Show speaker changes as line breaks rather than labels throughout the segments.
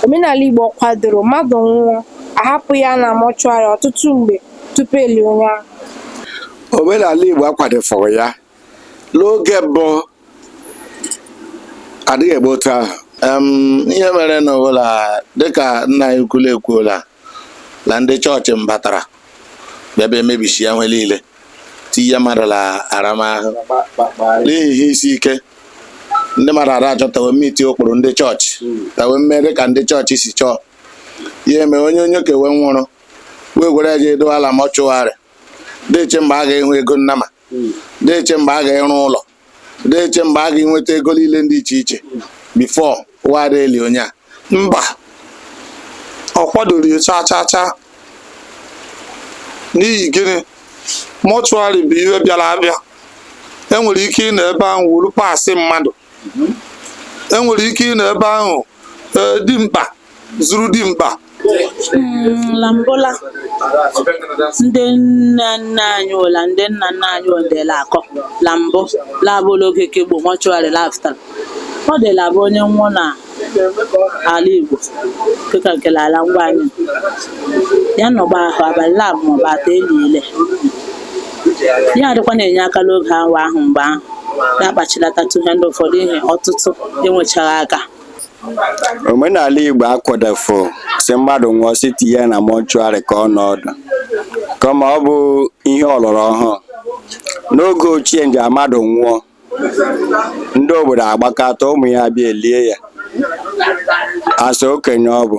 Omenala Igbo kwadoro mmadụ nwụọ, ahapụ ya na mọchụarị ọtụtụ mgbe tupu e lie onye ahụ. Omenala Igbo akwadofughị ya n'oge mbụ adịghị eme otu ahụ ihe mere na ụla dịka nna anyị ukwu la ekwuola na ndị chọọchị mbatara bịa bịa emebisịa nwe niile tinye mmadụ na aramahụ n'ihi ihe isi ike ndị mmadụ adị achọ ta we mmiti ụkpụrụ ndị chọọchị ta we mee dị ka ndị chọọchị si chọọ ya eme onye onye ke we nwụrụ wee gwere ya jee dowe ya la mọchụarị dị eche mgbe a ga-ịhụ ego nnama dị eche mgbe a ga-ịrụ ụlọ na-eche mgbe a ga-enweta ego niile dị iche iche before wa dị eli onye a mba ọ kwadoghị ya chaa chaa chaa n'ihi gịnị mọchụarị bụ ihe bịara abịa enwere ike ịnọ ebe ahụ wuru parts mmadụ enwere ike ịnọ ebe ahụ ee dimkpa zuru dimkpa Mm, la mbụ la ndị nna nna anyị ụla ndị nna nna anyị odela akọ la mbụ la-abụ la oge ke gboo mọchụarị la afụtara ọ dị la-abụ onye nwụọ na ala igbo dịka nke ala ngwa anyị ya nọgba ahụ abalị laabụ maọbụ atọ elie ya ya adịkwa na-enye aka n'oge awa ahụ mgbe ahụ na-akpachilatatụ ihe ndị ụfọdụ ihe ọtụtụ enwechaghị aka omenala igbo akwadofu sị mmadụ nwụọ sị tinye ya na mọchụarị ka ọ nọdụ kama ọ bụ ihe ọlọrọ ọhụụ n'oge ochie nje mmadụ nwụọ ndị obodo agbakọta ụmụ ya abịa elie ya asa okenye ọ bụ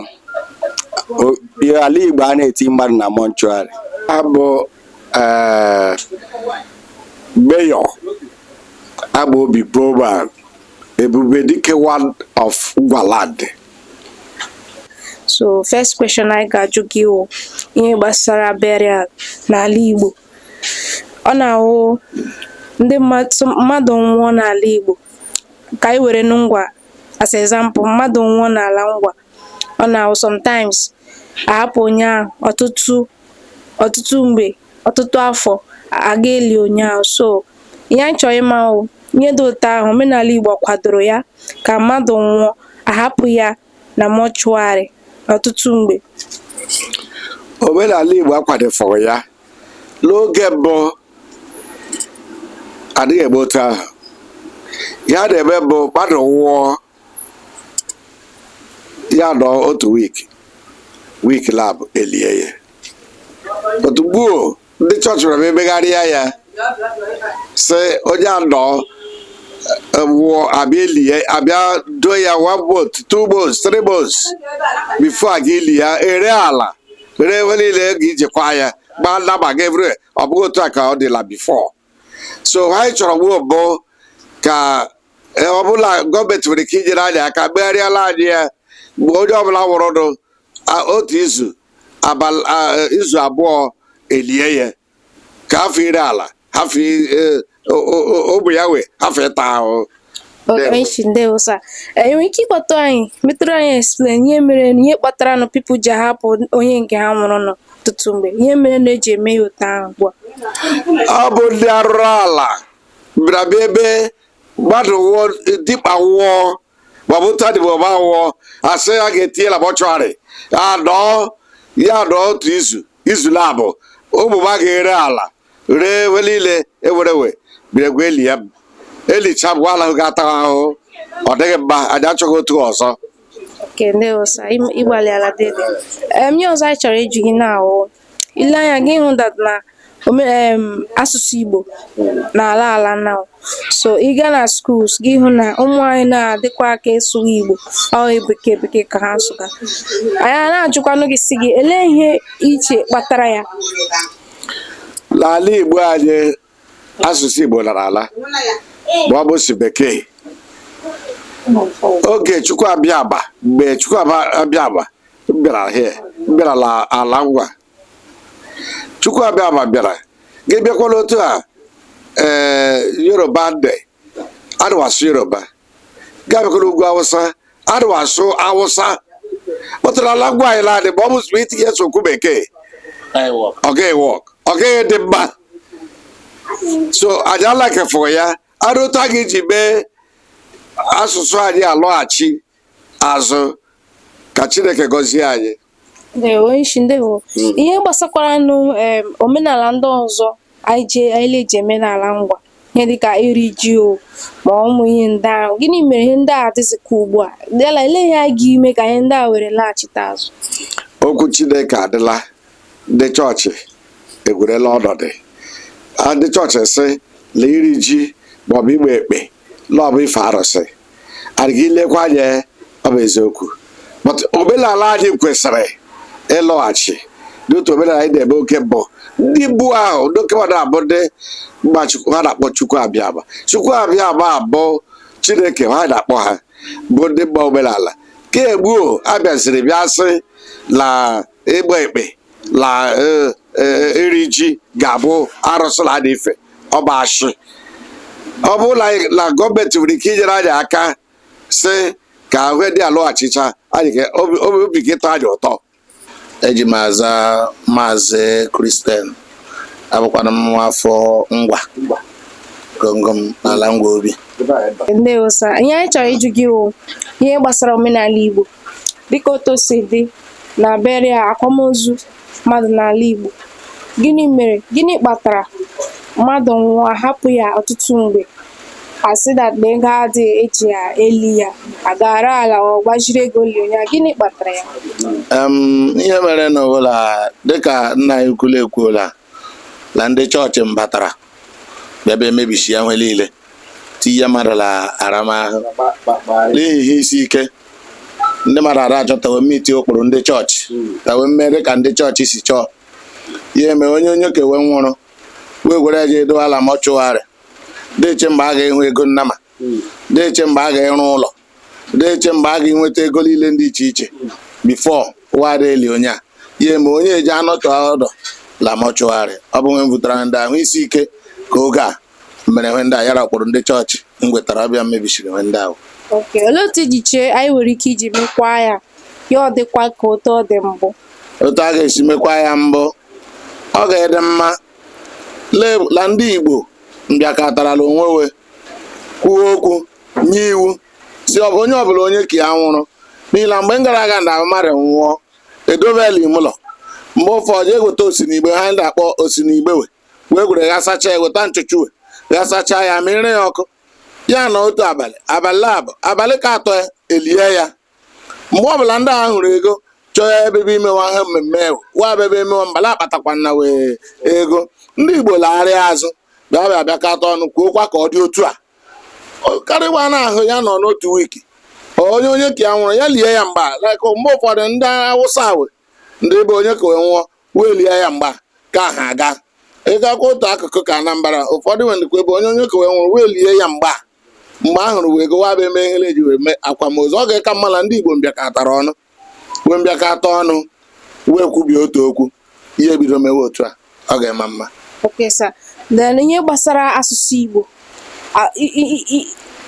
O- ihe ala igbo a na-eti mmadụ na mọchụarị abụ eh, mayor abụ obi boban ebube dike one of Ngwa land so first question anyị ga-ajụ gị wụ ihe gbasara burial n'ala Igbo ọ na-awụ ndị mmadụ nwụọ n'ala Igbo ka anyị were nụ ngwa as example mmadụ nwụọ n'ala ngwa ọ na-awụ sometimes ahapụ onye ahụ ọtụtụ ọtụtụ mgbe ọtụtụ afọ aga eli onye ahụ so ihe anyị chọrọ ịma ihe dị otu ahụ omenala Igbo kwadoro ya ka mmadụ nwụọ ahapụ ya na mọchụarị ọtụtụ mgbe omenala Igbo akwadofughị ya n'oge mbụ adịghị eme otu ahụ ya na-eme mbụ mmadụ nwụọ ya nọ otu wiki wiki laabụ elie ya otu gbuo ndị chọọchị bịara bịa megharịa ya sị onye anọọ nwụọ abịa eli ya abịa doo ya one month two months three months before a ga-eli ya ere ala ree ihe niile ga ijikwa ya gbaa nnama ga evre ọ bụghị otu a ka ọ dịla before so anyị chọrọ gboo mbụ ka eh, ọ bụ la gọọmenti nwere ike inyere anyị aka megharịala anyị ya mgbe onye ọbụla nwụrụnụ a- otu izu abalị a- izu abụọ elie ya ka ahafụ ire ala afọ i- e- o- o- o- ogbenye wee hafụ ịta ahụhụ Ndewo. Echi ndewo sa ị nwere ike ịkpọtụ anyị metụrụ anyị explain ihe mere na ihe kpatara nụ people ji ahapụ onye nke ha nwụrụ nọ ọtụtụ mgbe ihe mere na eji eme ya otu ahụ ugbu a ọ bụ ndị arụrụ ala bịara bịa ebe mmadụ nwụọ dimkpa nwụọ maọbụ otu adịbụ ọba anwụọ asị a ga-etinye la mortuary anọọ ya anọọ otu izu izu laabụ ụmụba ga-ere ala ree ihe niile enwere enwe biregwa eli ya elicha bụ ala ga-ata ahụhụ ọ dịghị mma anyị achọghị otu ọzọ thank you sa ịgbalịala dede em ihe ọzọ anyị chọrọ ịjụ gị now ile anya ga ịhụ that na asụsụ Igbo na-ala ala now so ị gaa na schools ga ịhụ na ụmụ anyị na-adịkwa aka ịsụwa Igbo ọ bekee bekee ka ha sụga anyị na-ajụkwanụ gị sị gị elee ihe iche kpatara ya n'ala Igbo anyị asụsụ Igbo lara ala ma ọ bụ si bekee oge Chukwu abịama mgbe Chukwu abịama bịara here bịara ala ngwa Chukwu abịama bịara gị bịakwa la otu a ee eh, Yoruba ndị adịghị asụ yoruba gị bịakwa la ugwu awụsa adịghị asụ awụsa but n'ala ngwa anyị laadị ma ọ bụ sị itinye so okwu bekee ọ gaghị work ọ gaghị dị mma so anyị alakefụrụ ya arụ otu a ga-eji mee asụsụ anyị alọghachi azụ ka Chineke gọzie anyị ndewo isi ndewo hmm. ihe gbasakwara nụ omenala ndị ọzọ anyị ji anyị na-eji eme n'ala ngwa ihe dịka iri ji o ma ụmụ ihe ndị ahụ gịnị mere ihe ndị a adịzikwa ugbu a la elee ihe a ga ime ka ihe ndị a were laghachite azụ okwu chineke adịla ndị chọọchị ewerela ọnọdụ ndị chọọchị sị na iri ji maọbụ ịgba ekpe la ọ bụ ife arụsị and gị lekwa anya ọ bụ eziokwu but omenala anyị kwesịrị ịlọghachi n'otu omenala anyị na-eme oke mbụ ndị mbụ ahụ ndị oke mmadụ ha bụ ndị mma chukwu ha na-akpọ chukwu abịama chukwu abịama bụ chineke ha na-akpọ ha bụ ndị mma omenala ke gboo abịaziri bịa sị na ịgba ekpe na eh, eh, iri ji ga-abụ arụsị na adị ife ọ bụ ashị ọ bụ na anyị- na gọọmenti nwere ike inyere anyị aka sị ka ihe ndị a lọghachicha anyị ga- obi obi- obi ga-ịtọ anyị ụtọ eji m aza maazị kristian abụkwanụ m nwa afọ ngwa gọngọm n'ala ngwa obi ndewo sa ihe anyị chọrọ ịjụ gị wụ ihe gbasara omenala igbo dịka otu o si dị na burial akwamozu mmadụ n'ala Igbo gịnị mere gịnị kpatara mmadụ nwụọ a hapụ ya ọtụtụ mgbe a sị that na ego adịghị eji ya eli ya a gara na-agbaziri ego eli onye a gịnị kpatara ya ihe merenụ wụ na dịka nna anyị ukwu la ekwuola na ndị chọọchị mbatara bịa bịa mebisi ya nwe niile tinye mmadụ na aramahụ n'ihi ihe isi ike ndị mmadụ a da-achọ ta we meet ụkpụrụ ndị chọọchị ta we mee dị ka ndị chọọchị si chọọ ya eme onye onye ke we nwụrụ wee gwere ya jee dowe la mortuary dị iche mgbe a ga-ịhụ ego nnama dị iche mgbe a ga-ịrụ ụlọ na-eche mgbe a ga-enweta ego niile dị iche iche before we dị eli onye a ya eme onye e ji anọtụ ọdụ la mortuary ọ bụ nwe mbutara ndị ahụ isi ike ka oge a mere nwe ndị a yara kpọrọ ndị chọọchị mgwetara ọbịa mmebisiri nwe ndị ahụ Okay, olee otu i ji chee anyị nwere ike iji mekwaa ya ya ọ dịkwa ka otu ọ dị mbụ otu a ga-esi mekwa ya mbụ ọ ga-adị mma le- la ndị igbo mbịakọtara la onwe we kwuo okwu nye iwu sị ọ bụ onye ọbụla onye ke ya nwụrụ n'ihi na mgbe mgara aga na mmadụ nwụọ e dobe la ime ụlọ mgbe ụfọdụ eweta osinigbe ha ndị akpọ osinigbe we wee gwere ya sacha ya weta nchụchụwe ya sacha ya mịrị ya ọkụ ya nọ otu abalị abalị abụ abalị ke atọ ya elie ya mgbe ọbụla ndị a hụrụ ego chọọ ịbịa imewa ha mmemme ewu wa bebe emewa mbala akpatakwa na wee ego ndị igbo lagharịa azụ bịa bịa bịakọta ọnụ kwuokwa ka ọ dị otu a karịwa na ahụ ya nọ n'otu week onye onye ke ya nwụrụ ya lie ya mgba like mgbe ụfọdụ ndị awụsa we ndị bụ onye ke we nwụọ we elie ya mgba ka ha aga ị gakwa otu akụkụ ke anambra ụfọdụ we ndịkwa bụ onye onye ke we nwụrụ we elie ya mgba mgbe a hụrụ we ego we abịa eme ihe eji wee mee akwamozu ọ ga-aka mma na ndị igbo mbịakọtara ọnụ wee mbịakọta ọnụ wee kwubie otu okwu ihe bido mewe otu a ọ ga-ama mma Okay, sir. Then ihe gbasara asụsụ Igbo a- i- i- i-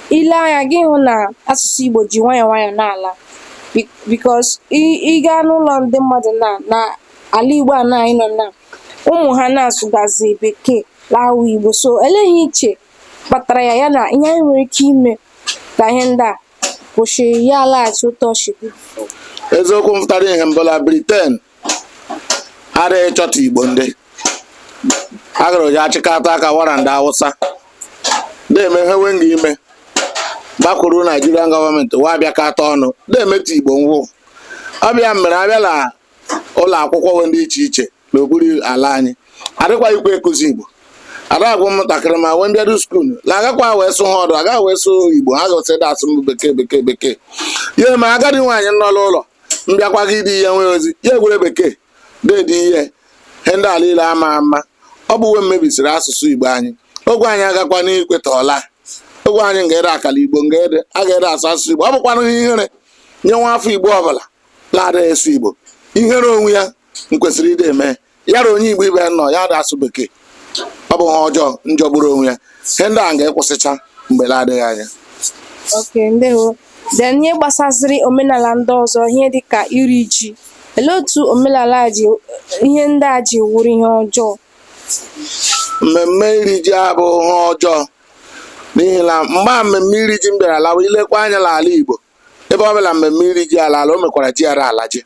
i lee anya ị ga-ahụ na asụsụ Igbo ji nwayọọ nwayọọ na-ala Be- because ị- ị gaa n'ụlọ ndị mmadụ na na ala Igbo a na anyị nọ na ụmụ ha na-asụgazi bekee lawa Igbo so elee ihe i che kpatara ya ya na ihe anyị nwere ike ime ka ihe ndị a kwụsị ya alaghachi ụtọ chigbu eziokwu mfụtara ihe mbụ la briten ada ịchọta igbo ndị agara oji achịkọta aka wara ndị awụsa de-eme ihe we nga ime gbakwuru naijirian gọọmenti wa abịakọta ọnụ de-emeta igbo ngwụ ọ bụ ya mere a bịa la ụlọ akwụkwọ we ndị iche iche n'okpuru ala anyị adịkwaghịkwa ịkụzi igbo a da-agwa ụmụntakịrị ma wee mbịado skuul la agakwa wee sụ ha ọdụ agaghị wee sụ igbo ha gosị dị asụ mbụ bekee bekee bekee ya ma agadi nwaanyị nọ n'ụlọ mbịakwa gị dị ihe nwee ozi ya ewere bekee deedi ihe ihe ndị a laile ama ama ọ bụ we mmebisiri asụsụ igbo anyị ogwe anyị agakwa n'ikweta ọla ogwe anyị nga ede akala igbo nga ede a ga-ede asụ asụsụ igbo ọ bụkwanụ ihe ihere nye nwa afọ igbo ọbụla la ada asụ igbo ihere onwe ya nkwesịrị ịdị eme yara onye igbo ibe ya nọ ya da asụ bekee ọ bụ ha ọjọọ njọgburu onwe ya ihe ndị a nga ịkwụsịcha mgbe la-adịghị anya okay ndewo then ihe gbasaziri omenala ndị ọzọ ihe dịka iri ji olee otu omenala a ji ihe ndị a ji wụrụ ihe ọjọọ mmemme iri ji abụ ha ọjọọ n'ihi na mgbe a mmemme iri ji mbịara lawa i lekwa anya n'ala igbo ebe ọ bụla mmemme iri ji ala ala o mekwara ji ada ala ji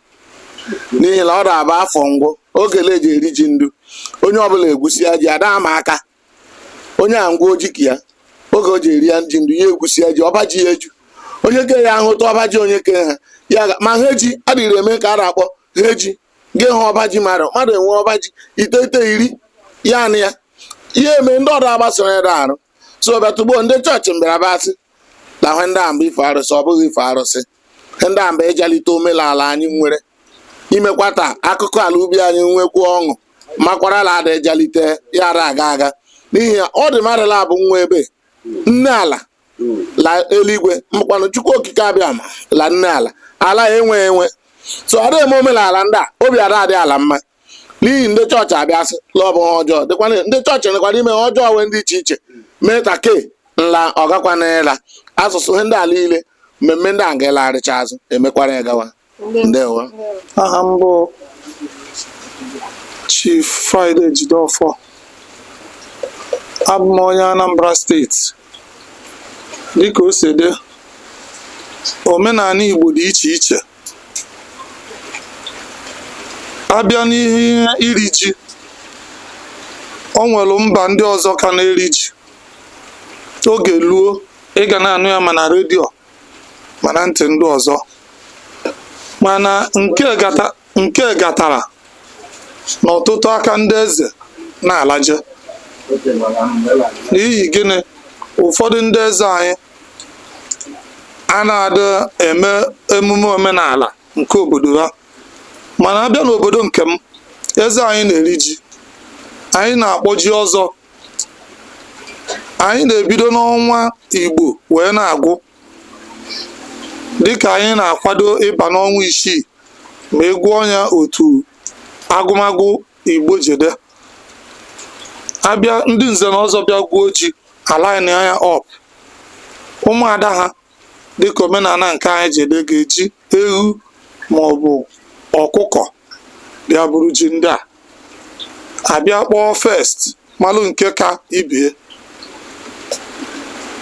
n'ihi na ọ na-abụ afọ ngwụ oge le eji eri ji ndu onye ọbụla egwusia ji ada ama aka onye a ngwa oji ka ya oge o ji eri ya ji ndu ya egwusia ji ọba ji ya eju onye ke ya ahụ otu ọba ji onye ke ha ya ga- ma ha eji adịghị eme ka a na-akpọ ha eji gị hụ ọba ji mmadụ mmadụ enwe ọba ji ite ite iri ya na ya ihe eme ndị ọdụ agbasoro ya arụ so bịa tugbo ndị chọọchị mbịara bịa sị na ihe ndị a mbụ ife arụsị ọ bụghị ife arụsị ihe ndị a mbụ ịjalite omenala anyị nwere imekwata akụkọ ala ubi anyị nwekwu ọṅụ makwara la ada ịjalite ya ada aga aga n'ihi ya ọ dị mmadụ laabọ nwe ebe nne ala la eluigwe mbụkwanụ chukwu okike abịama la nne ala ala ya enweghị nsọ ada eme omenala ndị a obi ada adị ala mma n'ihi ndị chọọchị abịa sị la ọ bụ ha ọjọọ dịkwana ndị chọọchị nwekwara ime ha ọjọọ we ndị iche iche mee ka ke nla ọ gakwana ịla asụsụ ihe ndị a laile mmemme ndị a nga-alarịcha azụ e mekwara ya gawa ndewo aha m bụ Chief Friday Jideofor abụ m onye Anambra steeti dịka o si dị omenani Igbo dị iche iche a bịa n'ihe iri ji o nwere mba ndị ọzọ ka na-eri ji oge luo ị ga na-anụ ya ma na redio ma na ntị ndị ọzọ mana nke kpata nke kpatara na ọtụtụ aka ndị eze na-alaje n'ihi gịnị ụfọdụ ndị eze anyị a na-adị eme emume omenala nke obodo ha mana abịa n'obodo nke m eze anyị na-eri ji anyị na-akpọ ji ọzọ anyị na-ebido n'ọnwa igbo wee na-agwụ dịka anyị na-akwado ịba n'ọnwa isii ma ị gụọ ya otu agụmagụ igbo ji dị abịa ndị nze na ọzọ bịa gwuo ji a line ya up ụmụada ha dịka omenala nke anyị ji dị ga-eji ewu maọbụ ọkụkọ bịa buru ji ndị a abịa kpọọ first malụ nke ka ibe ya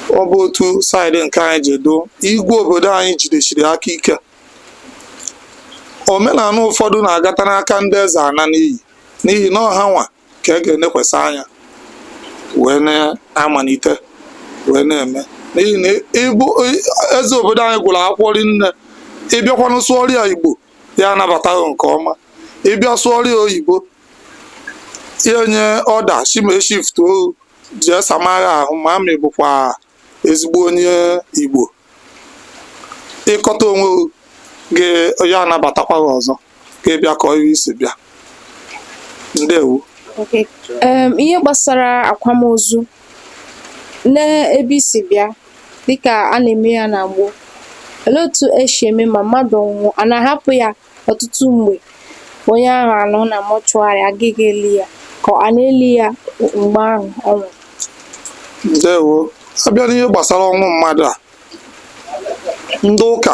ọ bụ otu saịdị nke anyị ji dị igwe obodo anyị jidechiri aka ike omenala ụfọdụ na-agata n'aka ndị eze ana n'iyi n'ihi na ọ ha nwa ka a ga-enekwasị anya wee na-amalite wee na-eme n'ihi na ịbụ eze obodo anyị gụrụ akwụkwọ rinne ị bịakwanụ sụọrọ ya igbo ya anabata gị nke ọma ị bịa sụọrọ ya oyibo ya nye ọda sị ma e shiftuo gị jee samagha ahụ ma ị bụkwa ezigbo onye igbo ị kọta onwe gị ya anabatakwa gị ọzọ ka ị bịa kaa ihe i si bịa ndewo Okay. Em, ihe gbasara akwamozu n'ebe i si bịa dịka a na-eme ya na gboo olee otu e si eme ma mmadụ nwụọ a na-ahapụ ya Ọtụtụ mgbe, onye ahụ anọ na mọchụarị agaghị eli ya ka a na-eli ya mgbe ahụ ọ nwụrụ. ndewo abịa n'ihe gbasara ọnwụ mmadụ a ndị ụka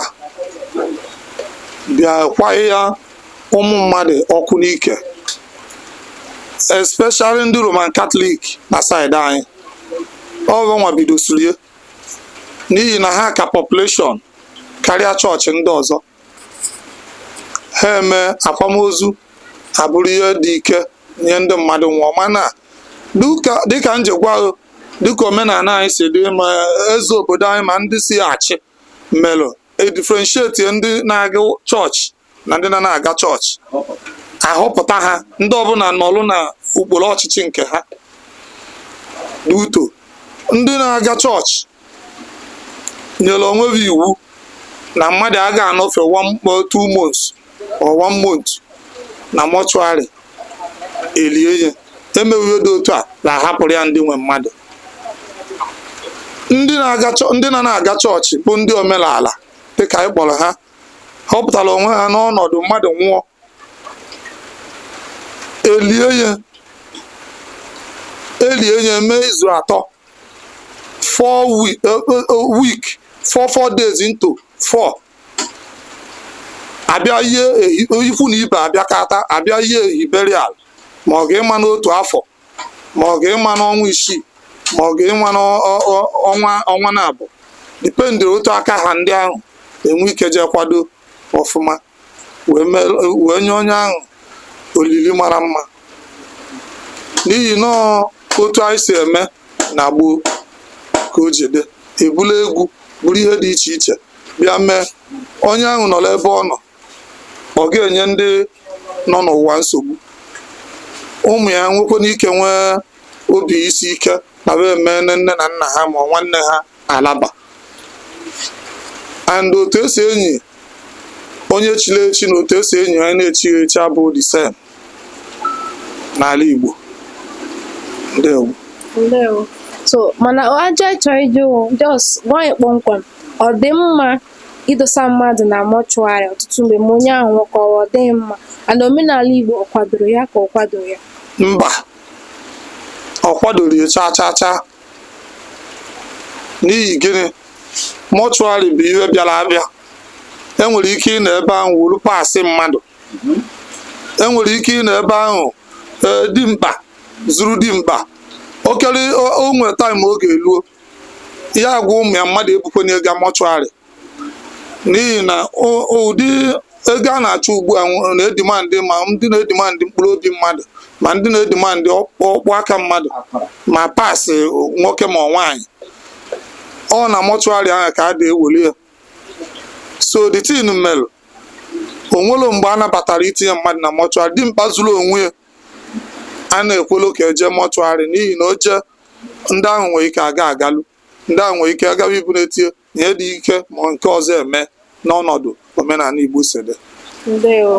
bịa kwaa ụmụ mmadụ ọkụ n'ike especially ndị roman katọlik na saịdị anyị ọ ha nwa bidosiri ya n'ihi na ha ka population karịa chọọchị ndị ọzọ ha eme akwamozu abụrụ ihe dị ike nye ndị mmadụ nwụọ mana dịka dịka m ji gwa gị dịka omenala anyị si dị ma eze obodo anyị ma ndị isi achị melụ e difrenshietie ndị na-aga chọọchị na ndị na-ana aga chọọchị a họpụta ha ndị ọbụla nọlụ n'okpuru ọchịchị nke ha uto ndị na-aga chọọchị nyere onwe ha iwu na mmadụ aga anọfe one mo- two months or one month na mọchụarị elie ya emeghị ihe dị otu a na-ahapụrụ ya ndị nwe mmadụ ndị na-aga chọ- ndị na-ana aga chọọchị bụ ndị omenala dịka anyị kpọrọ ha họpụtara onwe ha n'ọnọdụ mmadụ nwụọ elie ya elie ya mee izu atọ four week, uh, uh, uh, week four four days into four abịa ihe ikwu na ibe abịakọta abịa ihe ehi burial ma ọ ga-ịma n'otu afọ ma ọ ga-ịma n'ọnwa isii ma ọ ga-ịma n'ọnwa ọnwa na abụọ dipendịrị otu aka ha ndị ahụ enwe ike jee kwado ọfụma wee mere wee nye onye ahụ olili mara mma n'ihi na ọ otu anyị si eme na gboo ka o ji dị ebula egwu buru ihe dị iche iche bịa mee onye ahụ nọ n'ebe ọ nọ ọ ga-enye ndị nọ n'ụwa nsogbu ụmụ ya nwekwana ike nwee obi isi ike na emeene nne na nna ha ma ọ nwanne ha alaba and otu esi enyi onye chiri echi na otu esi enyi onye na-echighị echi abụghị the same n'ala Igbo ndewo ndewo so mana ajụjụ m chọrọ ịjụ just gwa anyị kpọmkwem ọ dị mma idosa mmadụ na mortuary ọtụtụ mgbe ma onye ahụ nwụkọrọ ọ dị mma and omenala Igbo ọ kwadoro ya ka ọ kwadoro ya mba ọ kwadoro ya chaa chaa chaa n'ihi gịnị mortuary bụ ihe bịara abịa enwere ike ịnọ ebe ahụ woru parts mmadụ enwere ike ịnọ ebe ahụ ee dimkpa zuru dimkpa okere onwe time oge eluo ya agwa ụmụ ya mmadụ ebukwene ya ga mortuary n'ihi na o- ụdị ego a na-achụ ugbu a nwere na-edimandị ma ndị na-edimandị mkpụrụ obi mmadụ ma ndị na-edimandị ọkpụkpụ aka mmadụ ma parts nwoke ma nwaanyị ọ na mortuary ahụ ka a ga-eweli ya so the thing melụ onwelo mgbe a nabatara itinye mmadụ na mortuary dimkpa zuru onwe ya a na-ekwelo ka eje mortuary n'ihi na o jee ndị ahụ nwere ike aga agalụ ndị ahụ nwere ike agawa iburu etie ihe dị ike ma nke ọzọ eme n'ọnọdụ omenala Igbo si dị ndewo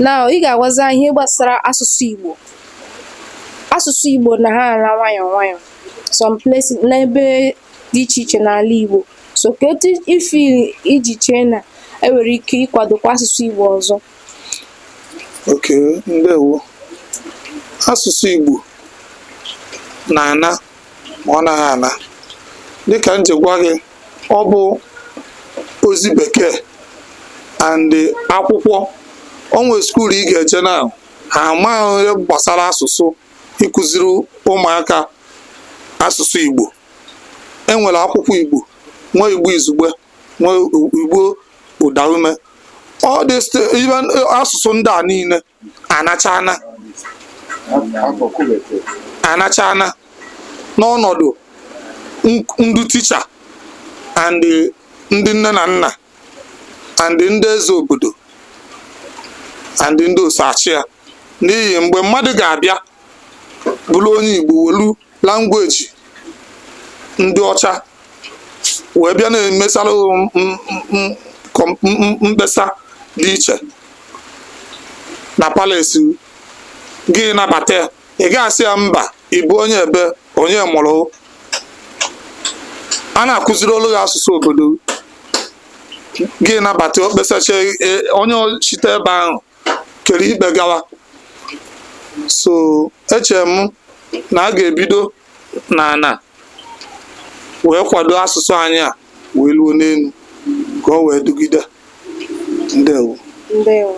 na ị ga-agwazi anyị ihe gbasara asụsụ Igbo asụsụ Igbo na-ala nwayọ nwayọ some places n'ebe dị iche iche n'ala Igbo so kedu ife i ji chee na enwere ike ịkwadokwa asụsụ Igbo ọzọ okay ndewo asụsụ Igbo na-ana ma ọ naghị ana dịka m ji gwa gị ọ bụ ozi bekee and akwụkwọ o nwe school ị ga-eje na ha amaghị ihe gbasara asụsụ ịkụziri ụmụaka asụsụ Igbo enwere akwụkwọ Igbo nwee Igbo izugbe nwee Igbo ụdaume all this thing, even uh, asụsụ ndị a niile anachana anachana n'ọnọdụ n- ndị ticha and the- ndị nne na nna and the ndị eze obodo and the ndị o so achị ya n'ihi mgbe mmadụ ga-abịa bụrụ onye Igbo welu language ndị ọcha wee bịa na-emesara mkpesa dị iche na palace gị nabata ya ị ga-asị ya mba ị bụ onye ebe onye mụrụ a na-akụziri olu gị asụsụ obodo gị nabata o kpesacha onye shite ebe ahụ kere ikpe gawa so echere m na a ga-ebido na ana wee kwado asụsụ anyị a wee luo n'enu ka o wee dugide ndewo ndewo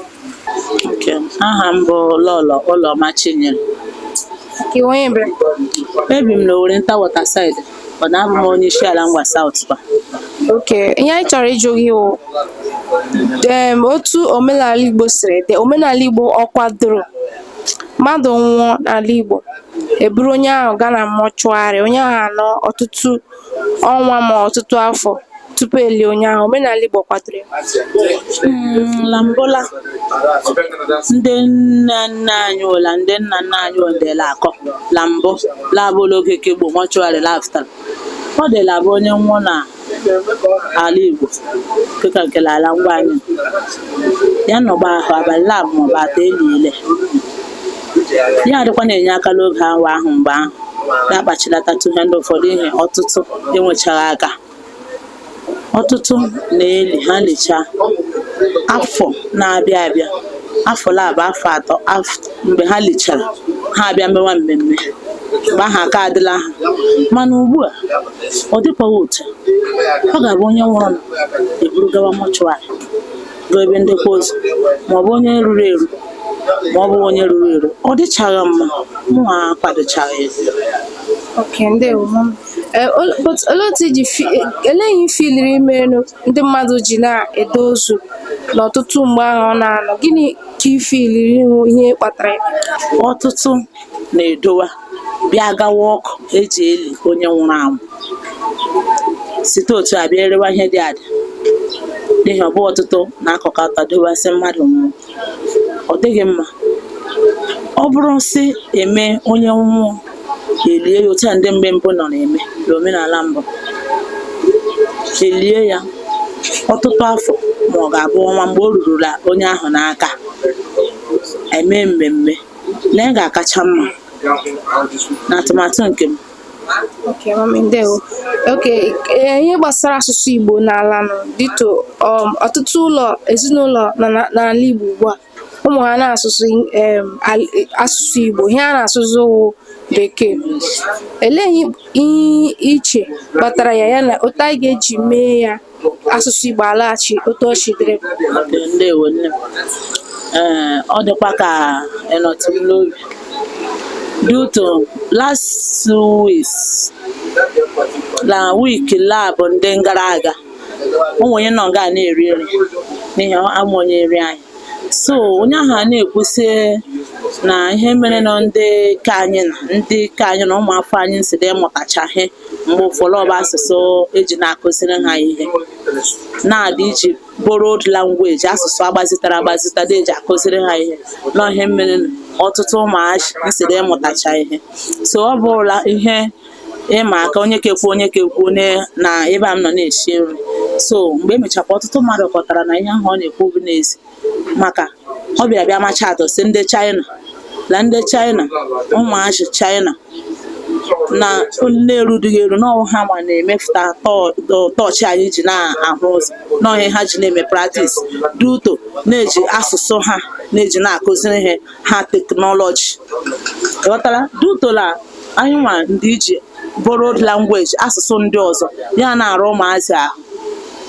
nke m. aha m bụ Lọlọ Ụlọma Chinyere Iwe ebe? ebi m n'Owerenta Waterside ọ na-abụ m onye Isiala Ngwa South kwa okay ihe anyị chọrọ ịjụ gị wụ em otu omenala Igbo siri dị omenala Igbo ọ kwadoro mmadụ nwụọ n'ala Igbo e buru onye ahụ gaa na mortuary onye ahụ anọ ọtụtụ ọnwa ma ọtụtụ afọ tupu e lie onye ahụ omenala Igbo kwadoro ya? Mm, na mbụ la ndị nna nna anyị ụla ndị nna nna anyị ọ dị la-akọ na mbụ la-abụ l'oge ke gboo mortuary la-afụta ọ dị la-abụ onye nwụọ na ala Igbo dịka nke l'ala Ngwa anyị ya nọgba ahụ abalị labụ maọbụ atọ eliile ya adịkwa na-enye aka n'oge awa ahụ mgbe ahụ na-akpachilata tụhe ndị ụfọdụ ihe ọtụtụ enwechaghị aka ọtụtụ na-eli ha licha afọ na-abịa abịa afọ labụ afọ atọ mgbe ha lichara ha abịa mewa mmemme mgbe ahụ aka adịla ha mana ugbu a ọ dịkwaghị otu ọ ga-abụ onye nwụrụ na e buru gawa mortuary bụ ebe ndekwa ozu ma ọ bụ onye ruru eru ma ọ bụ onye ruru eru ọ dịchaghị mma mụ akwadochaghị ya Eh, olee otu i ji ele ihe i filiri merenụ ndị mmadụ ji na-ede ozu n'ọtụtụ mgbe ahụ ọ na-anọ gịnị ka i filiri wụ ihe kpatara ya ọtụtụ na-edowa bịa gawa ọkụ e ji eli onye nwụrụ anwụ site otu a bịa erewa ihe dị adị n'ihi ọ bụ ọtụtụ na-akọkọta dowa sị mmadụ nwụrụ ọ dịghị mma ọ bụrụ sị eme onye nwụọ elie ya otu a ndị mgbe mbụ nọ na-eme n'omenala mbụ elie ya ọtụtụ afọ ma ọ ga-abụ ọnwa mgbe o rurula onye ahụ n'aka eme mmemme na ị ga-akacha mma na atụmatụ nke m Okay, mami, ndewo. Okay, eh, ihe gbasara asụsụ Igbo n'ala nọ due to um, ọtụtụ ụlọ ezinụlọ nọ na- n'ala Igbo ugbu a ụmụ ha na-asụzi asụsụ Igbo ihe a na-asụ wụ bekee elee ihe i che kpatara ya ya na otu anyị ga-eji mee ya asụsụ Igbo alaghachi otu ọ chidere ọ dịkwa ka ịnọtụ n'obi due to last week na week lab ndị gara aga o nwere onye nọ nga a na-eri nri n'ihi ama onye nri anyị so onye ahụ a na-ekwu sị na ihe mere na ndị ka anyị na ndị ka anyị na ụmụafọ anyị si dị ịmụtacha ihe mgbe ụfọdụ bụ asụsụ eji na-akụziri ha ihe na-adị iji borrowed language asụsụ agbazitara agbazita dị eji akụziri ha ihe na ihe mere na ọtụtụ ụmụazị si dị ịmụtacha ihe so ọ bụrụla ihe ịma aka onye ke kwuo onye ke kwuo na ebe a m nọ na-esi nri so mgbe emechakwa ọtụtụ mmadụ kọtara na ihe ahụ ọ na-ekwu bụ n'ezi maka ọ bịara bịa macha atụ sị ndị China na ndị China ụmụazị China na na-erudughị eru na ọ wụ ha ma na-emepụta tọọchị anyị ji na-ahụ ụzọ na ọ ihe ha ji na-eme practice due to na e ji asụsụ ha na-eji na-akụziri ihe ha teknọlọji ghọtara due to la anyị nwa ndị iji borrowed language asụsụ ndị ọzọ ya na-ara ụmụazị ahụ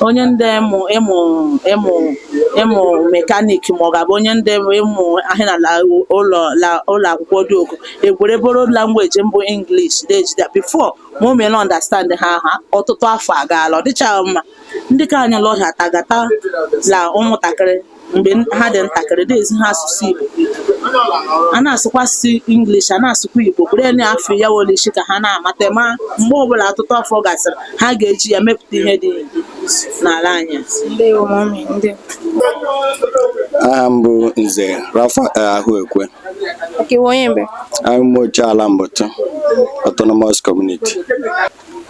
onye ndị ịmụ ịmụ ịmụ ịmụ mekanik ma ọ ga-abụ onye ndị ịmụ ahịa na la- ụlọ la- ụlọ akwụkwọ dị ukwu egwere borrowed language mbụ English na-ejide before ma o meela understand ha ha ọtụtụ afọ agaala ọ dịchaghị mma ndị ka anyị lọhịa tagata la ụmụntakịrị mgbe ha dị ntakịrị na-ezi ha asụsụ Igbo a na-asụkwa asụsụ English a na-asụkwa Igbo bụrụ na afọ ya wolishi ka ha na-amata ma mgbe ọbụla ọtụtụ afọ gasịrị ha ga-eji ya mepụta ihe dị n'ala anyị aha m bụ nze Rafael Ahụekwe ala Mbutu autonomous community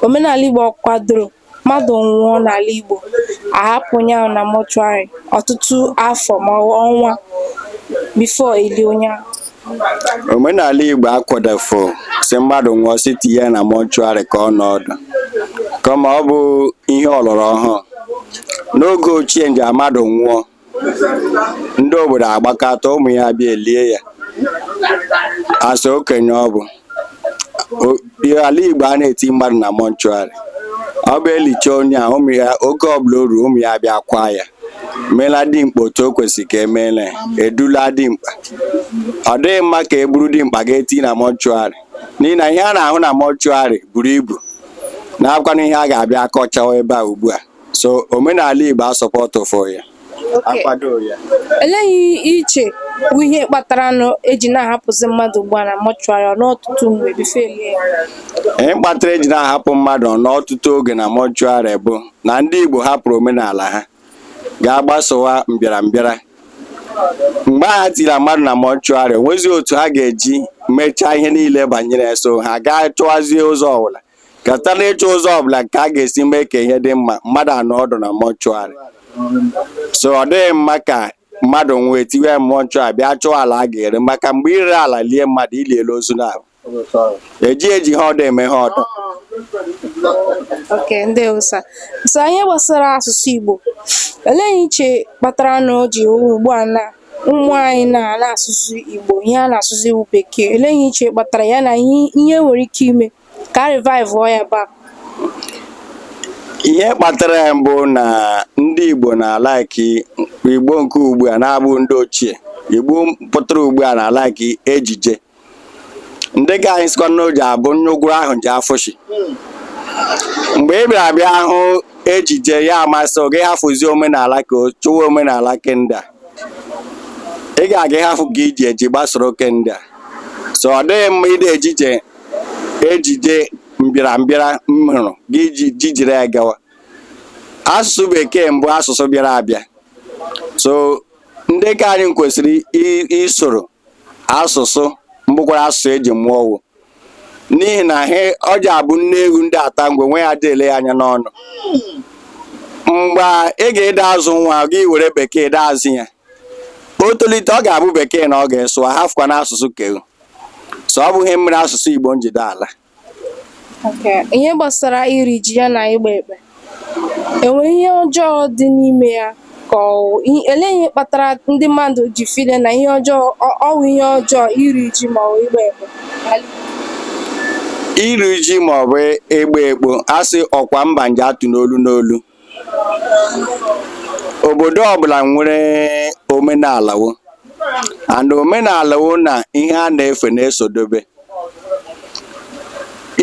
omenala Igbo ọ kwadoro Mmadụ nwụọ n'ala Igbo, a hapụ onye ahụ na mọchụarị ọtụtụ afọ ma ọ bụ ọnwa before elie onye ahụ. Omenala Igbo akwadofo sị mmadụ nwụọ sị tinye ya na mọchụarị ka ọ nọ ọdụ kama ọ bụ ihe ọlọrọ ọhụụ. N'oge ochie nja mmadụ nwụọ, ndị obodo agbakọta ụmụ ya abịa elie ya as okenye ọ bụ O- ihe ala igbo a na-eti mmadụ na mọnchụarị ọ bụ elicha onye a ụmụ ya oge ọbụla o ruo ụmụ ya abịa kwaa ya meela dimkpa otu o kwesịrị ka emeela ya, edula dimkpa ọ dịghị mma ka e buru dimkpa ga-eti na mọnchụarị n'ihi na ihe a na-ahụ na mọnchụarị buru ibu na-akwanụ ihe a ga-abịa akọchawa ebe a ugbu a so omenala Igbo asupọtụfụ ya akwado ya elee ihe i che bụ ihe kpatara na eji na-ahapụzi mmadụ ugbu a na mọchụarị n'ọtụtụ mgbe bifọ e lie ihe kpatara eji na-ahapụ mmadụ n'ọtụtụ oge na mọchụarị bụ na ndị Igbo hapụrụ omenala ha gaa gbasowa mbịarambịara mgbe ha tira mmadụ na mọchụarị o nwezi otu ha ga-eji mechaa ihe niile banyere so ha gaa chọwazie ụzọ ọbụla ka site n'ịchọ ụzọ ọbụla ka a ga-esi mee ka ihe dị mma mmadụ anọ ọdụ na mọchụarị so ọ dịghị mma ka mmadụ nwụọ e tiwe ya mọchụarị bịa chọwa ala a ga-ere maka mgbe i ree ala lie mmadụ i liele ozu naabọ eji eji ha ọdụ eme ha ọdụ oke ndị ụsa so ihe gbasara asụsụ igbo olee ihe i che kpatara na o ji ugbu a na ụmụ anyị na anaghị asụzi Igbo ihe a na-asụzi wụ bekee olee ihe i che kpatara ya na ihe e nwere ike ime ka a revaivụọ ya bak ihe kpatara ya mbụ na ndị Igbo na-alaiki Igbo nke ugbu a na-abụghị ndị ochie Igbo pụtara ugbu a na-alaiki ejije ndị ke anyị sịkwa na o ji abụ nnukwu ahụ ji afụshi mgbe ị bịara bịa hụ ejije ya amasị gị hafụzi omenala ke wu chọwa omenala ke nda ị ga-aga ịhafụ ke i ji eji gbasoro ke nda so ọ dịghị mma ide ejije ejije mbịarambịara m hụrụ gị ji jijiri ya gawa asụsụ bekee mbụ asụsụ bịara abịa so ndị ke anyị kwesịrị i- isoro asụsụ mbụkwara asụsụ e ji mụọ wụ n'ihi na ha ọ ja-abụ nne ewu ndị ata ngwe nwa ya ede ele ya anya n'ọnụ mgbe ị ga-ede azụ nwa gị were bekee dee azụ ya o tolite ọ ga-abụ bekee na ọ ga-asụwa hafụkwa na asụsụ ke wu so ọ bụ ihe mere asụsụ igbo nji ede ala ihe gbasara iri ji ya na ịgba ekpe e nwere ihe ọjọọ dị n'ime ya ka ọ elee ihe kpatara ndị mmadụ ji feel na ihe ọjọọ ọ wụ ihe ọjọọ iri ji ma ọ ịgba ekpe iri ji ma ọ bụ ịgba ekpo a sị ọkwa mba nje atụ n'olu n'olu obodo ọbụla nwere omenala wo and omenala wo na ihe a na-efe na-esodobe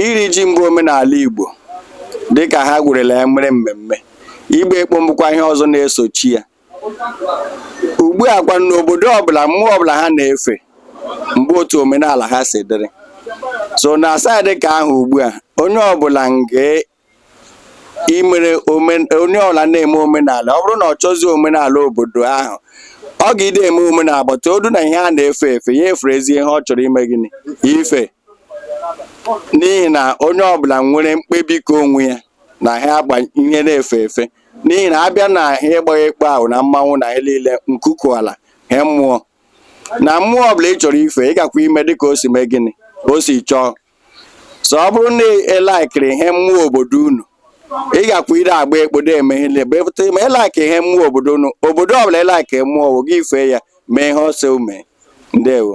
iri ji mbụ omenala Igbo dịka ha gwerela ya mere mmemme ịgba ekpo mbụkwa ihe ọzọ na-esochi ya ugbu a kwa n'obodo ọbụla mmụọ ọbụla ha na-efe mgbe otu omenala ha si dịrị so na side ka ahụ ugbu a onye ọbụla nke ị mere onye ọbụla na-eme omenala ọ bụrụ na ọ chọzie omenala obodo ahụ ọ ga-ide eme omenala but ọ bụrụ na ihe a na-efe efe ya eferezie ihe ọ chọrọ ime gịnị ife n'ihi na onye ọbụla nwere mkpebi ka onwe ya na ha agba ihe na-efe efe n'ihi na a bịa na ha ịgbaghị ekpe ahụ na mmanwụ na ihe niile nkuku ala ha mmụọ na mmụọ ọbụla ị chọrọ ife ị gakwa ime dịka o si mee gịnị o si chọọ so ọ bụrụ na ị likeri ihe mmụọ obodo unu ị gakwa ire agba ekpo de eme ihe niile but ma ị like ihe mmụọ obodo unu obodo ọbụla ị like mmụọ wo gị fee ya mee ihe ọ sị mee ndewo